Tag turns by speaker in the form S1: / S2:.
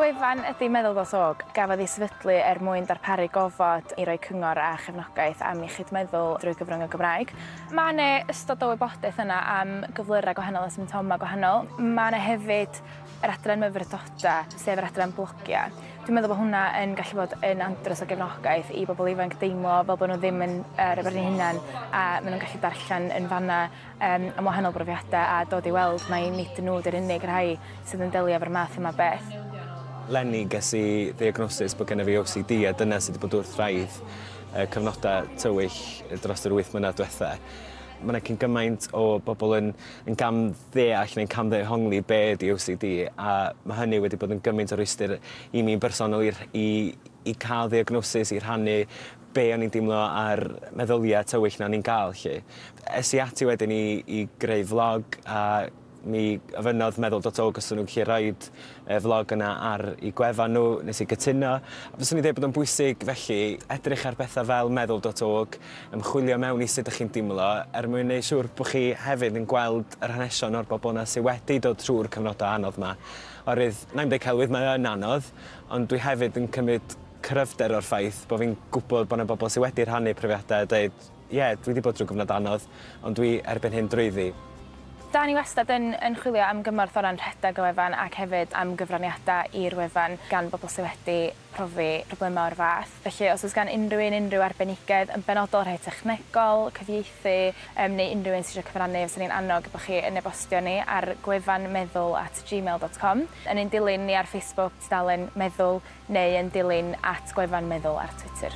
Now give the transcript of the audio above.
S1: Gwefan ydy Meddwl Dros Ôg, gafodd ei sefydlu er mwyn darparu gofod i roi cyngor a chefnogaeth am iechyd meddwl drwy gyfrwng y Gymraeg. Mae yna ystod o wybodaeth yna am gyflyrau gwahanol a symptomau gwahanol. Mae yna hefyd yr adran myfyrddoda, sef yr adran blogia. Dwi'n meddwl bod hwnna yn gallu bod yn andros o gefnogaeth i bobl ifanc deimlo fel bod nhw ddim yn uh, rhywbeth eu hunan a maen nhw'n gallu darllen yn fanna um, am wahanol brofiadau a dod i weld mai nid nhw dy'r unig rhai sydd yn delio efo'r math yma beth. Lenny, ges i ddiagnosis bod gennyf fi OCD a dyna sydd wedi bod wrth raidd uh, cyfnodau tywyll dros yr wyth mlynedd diwetha. Mae yna cyn gymaint o bobl yn, yn gam ddeall neu'n camddehongli be ydi OCD a ma' hynny wedi bod yn gymaint o rwystyr i mi'n bersonol i rh- i i ca'l ddiagnosis, i rhannu be' o'n i'n deimlo a'r meddylia' tywyll 'na o'n i'n ga'l 'lly. Es i ati wedyn i i greu flog a mi ofynnodd meddwl dot org os o'n nhw'n gallu rhoid y flog yna ar eu gwefan nhw, nes i gytuno. A fyswn i'n dweud bod o'n bwysig, felly, edrych ar bethau fel meddwl dot org, ymchwilio mewn i sut dych chi'n deimlo, er mwyn neud siŵr bod chi hefyd yn gweld yr hanesion o'r bobl yna sydd wedi dod trwy'r cyfnodau anodd yma. Oherwydd, wna i'm deud celwydd, mae o yn anodd, ond dwi hefyd yn cymryd cryfder o'r ffaith bod fi'n gwybod bod yna bobl sydd wedi rhannu profiadau a deud, Ie, dwi 'di bod drwy gyfnod anodd, ond dwi erbyn hyn drwyddi. Da ni wastad yn yn chwilio am gymorth o ran rhedeg y wefan ac hefyd am gyfraniadau i'r wefan gan bobl sydd wedi profi problemau o'r fath. Felly os oes gan unrhyw un unrhyw arbenigedd yn benodol, rhai technegol, cyfieithu yym neu unrhyw un sydd eisiau cyfrannu fyswn i'n annog i bod chi yn e-bostio ni ar gwefan meddwl at gmail dot com. Yn ein dilyn ni ar Facebook, tudalen Meddwl. neu yn dilyn at Gwefan Meddwl ar Twitter.